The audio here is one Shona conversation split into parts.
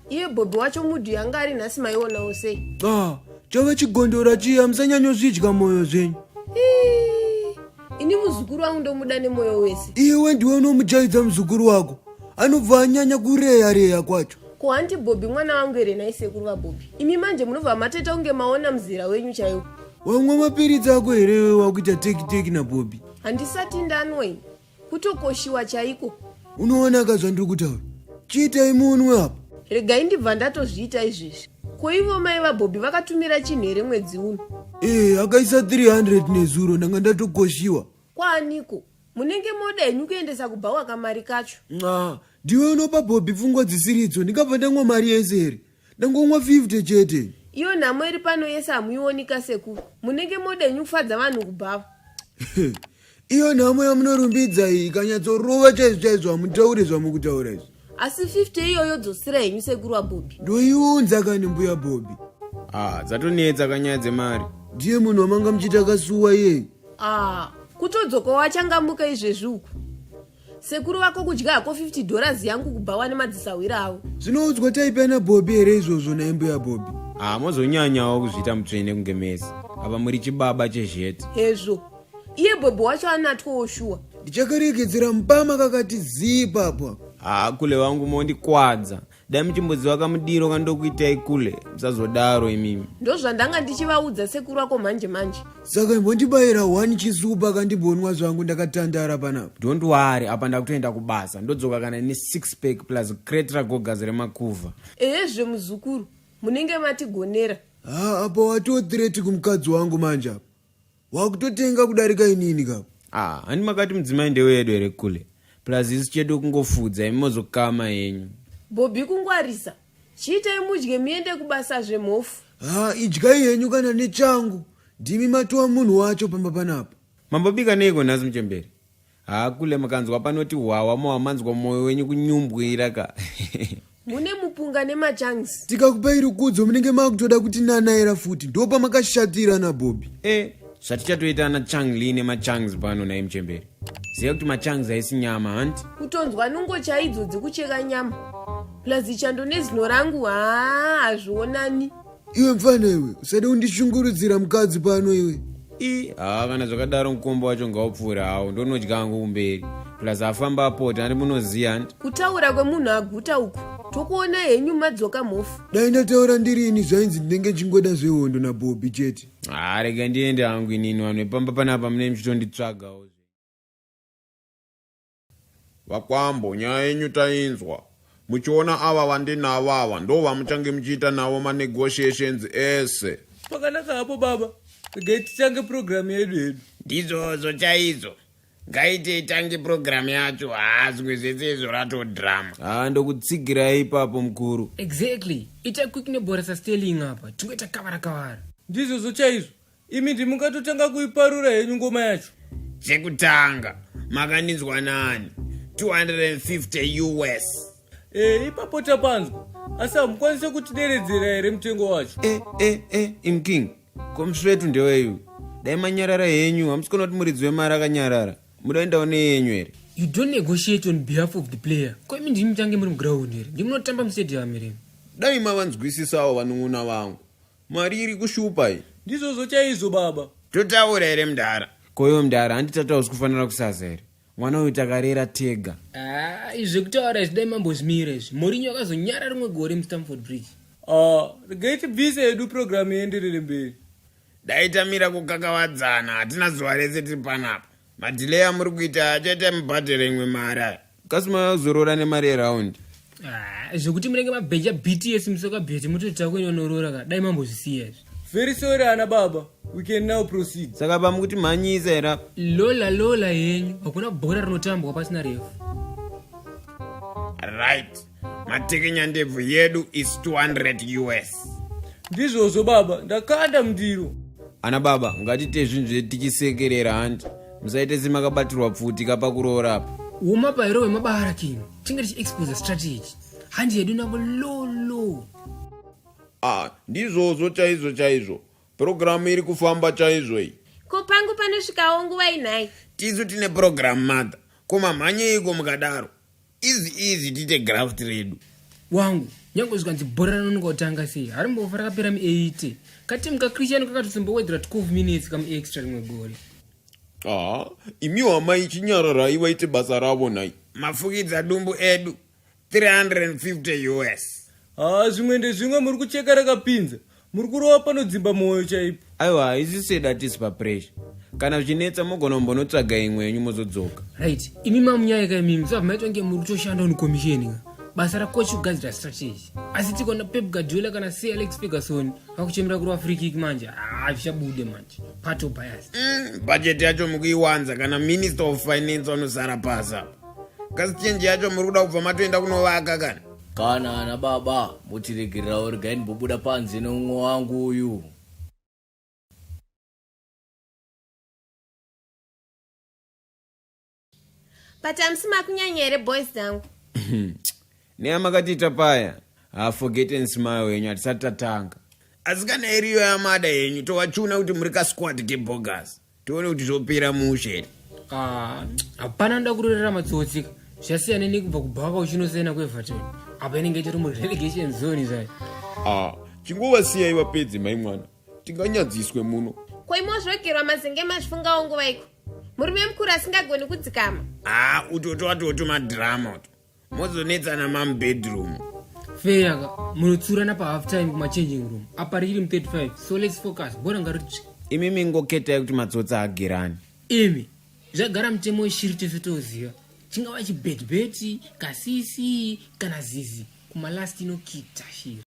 iye bhobhi wacho mudhi yanga ari nhasi maionawo sei ba chava chigondora chiya musanyanyozvidya mwoyo zvenyu ini muzukuru wangu ndomuda nemoyo wese iwe ndiwe unomujaidza muzukuru wako anobva anyanya kureya reya kwacho ko hanti bhobhi mwana wangu here nai sekuru vabhobhi imi manje munobva mateta kunge maona muzera wenyu chaiwo wamwa mapiritsi ako here wakuita tekiteki nabhobhi handisati ndanwa ini kutokoshiwa chaiko unoonaka zvandiri kutaura chiitai munwe apa regai ndibva ndatozviita izvezvi ko ivo mai vabhobhi vakatumira chinhu here mwedzi uno ee eh, akaisa 300 nezuro ndanga ndatokoshiwa kwaaniko munenge moda henyu kuendesa kubhawa kamari kacho nxa ndiwe unopa bhobhi pfungwa dzisiri idzo ndikabva ndangwa mari yese here ndangomwa 50 chete iyo nhamo iri pano yese hamuionika seku munenge modenyu kufadza vanhu kubhava iyo nhamo yamunorumbidza iyi ikanyatsorova chaizvo chaizvo hamutaure zvamukutaura izvi asi 50 iyoyo dzosira henyu sekuru wabobi ndoiunza kani mbuya bobi ah dzatonetsa kanyaya dzemari ndiye munhu wamanga muchiti akasuwa iyeyi ah kutodzoka wachangamuka izvezvi uku sekuru vako kudya hako 50 dollars yangu kubva wane madzisahwira avo zvinoudzwa type ana bobi here izvozvo naye mbuya bobi ah mozonyanyawo kuzviita mutsvene kunge mese apa muri chibaba chezheti hezvo iye bobi wacho anatwawo shuwa ndichakaregedzera mupama kakati zii papa ah kule wangu mondikwadza dai muchimboziva kamudiro kandokuitai kule musazodaro imimi ndozvandanga ndichivaudza sekuru ako manje manje saka imbondibayira one chisupa kandibonwa zvangu ndakatandara panapa don't worry apa ndakutoenda kubasa ndodzoka kana ine six pack plus crate ragogazi remakuva ehe zve muzukuru munenge matigonera ha apa watothreat kumukadzi wangu manje apa wakutotenga kudarika inini ka ah hani makati mudzimai ndewedu here kule plus isu chedu kungofudza imi mozokama henyu bhobhi kungwarisa chiitai mudye muende kubasa zvemhofu ha idyai henyu kana nechangu ndimi matowa munhu wacho pamba panapa mambobika neiko nhasi muchemberi Haa kule mukanzwa panoti hwawa mowa manzwa moyo wenyu kunyumbwira ka. mune mupunga nemachangs tikakupai rukudzo munenge makutoda kuti nanaera futi ndopa makashatira nabhobhi e zvatichatoita ana changli nemachangs pano naye muchemberi ziva kuti machangs haisi nyama hanti kutonzwa nungo chaidzo dzekucheka nyama plus chando nezino rangu haa hazvionani iwe mfana iwe usade kundishungurudzira mukadzi pano iwe i haa kana zvakadaro mukombo wacho ngaupfuure hawo ndonodya hangu kumberi plus afamba apota andi munoziva handi kutaura kwemunhu aguta uku tokuona henyu madzoka mhofu dai ndataura ndiri ini zvainzi ndinenge ndichingoda zvehondo nabhobi chete haa rega ndiende hangu inini vanhu vepamba panapa mune muchitonditsvagawo Vakwambo nyaya yenyu tainzwa. Muchiona ava vandinavo ava ndo vamuchange muchiita navo ma negotiations ese. Pakanaka hapo baba. Regai titange program yedu hedu. Ndizvozvo chaizvo. Ngaite itange program yacho haa zvimwe zvese izvo rato drama. Haa ndokutsigirai ipapo mukuru. Exactly. Ita quick nebhora sa Sterling apa. Tingoita kavara kavara. Ndizvozvo chaizvo. imi ndimukatotanga kuiparura henyu ngoma yacho chekutanga makandinzwa nani 250 us e, ipapo tapanzwa asi hamukwanise kutideredzera here mutengo wacho e, e, e, imking komsvetu ndeweyu dai manyarara henyu hamusikona kuti muridzi wemari akanyarara mudaendawo neyenyu here you don't negotiate on behalf of the player ko imi ndimi mutange muri muground here ndimunotamba mustadium here dai mavanzwisisawo vanun'una vangu Mari iri kushupa iyi. Ndizvozvo chaizvo baba. Totaura here mdara? Koyo mdara handi tataura zvikufanira kusaza here? Mwana uyu takarera tega. Ah, izvi kutaura izvi dai mambo zvimira izvi. Mourinho akazonyara rimwe gore muStamford Bridge. Ah, regai tibvise yedu program ienderere mberi. Dai tamira kukakavadzana hatina zuva rese tiri panapa. Madhilei amuri kuita achaita mubhadhara imwe mari aya. kasi mazorora nemari yeround ah, zvekuti munenge mabheja bts musoka bheti mutoita kwenyu anorora ka dai mambozvisiya izvi very sorry ana baba we can now proceed saka baba mukuti mhanyisa era lola lola yenyu hakuna bhora rinotambwa pasina refu right matekenyandebvu yedu is 200 us ndizvozvo baba ndakanda mundiro ana baba ngatite zvinhu zvetikisekerera handi musaite semakabatirwa pfuti kapa kuroora apa uma pairo wemabara kino tinge tichiexposa strategy handi yedu navo lolo ah ndizvozvo chaizvo chaizvo purogiramu iri kufamba chaizvo iyi ko pangu panosvikawo nguva inhai tisu tine purogiramu mother ko mamhanyeiko mukadaro easy easy tiite graft redu wangu nyange zvikanzi bhora ranononga kutanga sei hari mbofa rakapera mu8 katimu kachristian kakatozombowedzera 12 minutes kamuextra rimwe gore haa imiwo amai chinyararai vaite basa ravo nhai mafukidza dumbu edu 350 us haa zvimwe ndezvimwe muri kucheka rakapinza muri kurova panodzimba mwoyo chaipo aiwa haisi sedi atisi papresha kana zvichinetsa mogona kumbonotsvaga imwe yenyu mozodzoka right imi mamunyayeka imimi saka maitwa nge muri kutoshanda on commission ka basa rakochi kugadzira strategy asi tikona pep gadiola kana c alex ferguson vakuchemera kurova free kick manje haa zvichabude manje pato bias Mm, bhajeti yacho mukuiwanza kana minister of finance vanosara pasi apa kasi chenji yacho muri kuda kubva matoenda kunovaka kana Kana ana baba motiregererawo regai ndimbobuda panze neumwe wangu uyu. But hamusi makunyanya here boys dzangu? Neya makatiita paya. Ha forget and smile yenyu hatisati tatanga. Asi kana iriyo yamada yenyu tovachuna kuti muri kasquad kebogus. tione kuti zvopera mushe here ah, hapana anoda kurorera matsotsika zvasiyana nekubva kubhaka uchinosena kueverton apa inenge itori murelegation zone zvayo ah, chingova siyai vapedze mai mwana tinganyadziswe muno koimozvogerwa mazenge mazvifungawo nguva iko murume mukuru asingagoni kudzikama a ah, utoto atoto madhirama uto mozonetsana mamu bedroom feya ka munotsurana pahalf time kumachanging room apa richiri mu35 so lets focus bora ngaritsve imi mingoketai kuti matsotsi agerani imi zvagara mutemo weshiri tese toziva chingava chibhetibheti kasisi kana zizi kumalast inokita shiri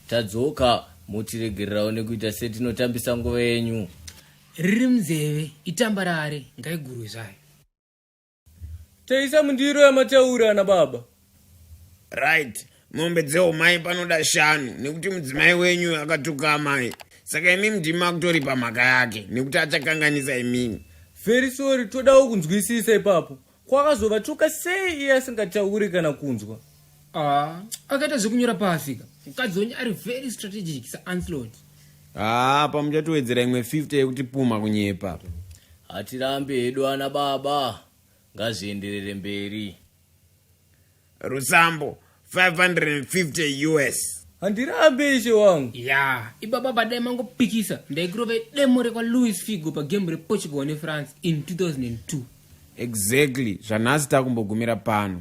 tadzoka motiregererawo nekuita setinotambisa nguva yenyu riri munzeve itamba rare ngaigurwe zvayo Taisa mundiro yamataura ana baba. Right. Mombe dzeumai panoda shanu nekuti mudzimai wenyu akatuka amai. Saka imi mdimi makutori pamhaka yake nekuti achakanganisa imini. Very sorry todawo kunzwisisa ipapo. Kwakazovatuka sei iye asingatauri kana kunzwa. Ah, akaita zvekunyora paafika mukadzi wenyu ari very strategic saanslot haa ah, pamuchatowedzera imwe 50 yekuti puma kunyepa hatirambe hedu ana baba ngazvienderere mberi rusambo 550 us handirambe ishe wangu ya yeah. ibaba badai mangopikisa ndaikirova demo rekwalouis figo pagemu reportugal nefrance in 2002 exactly zvanhasi takumbogumira pano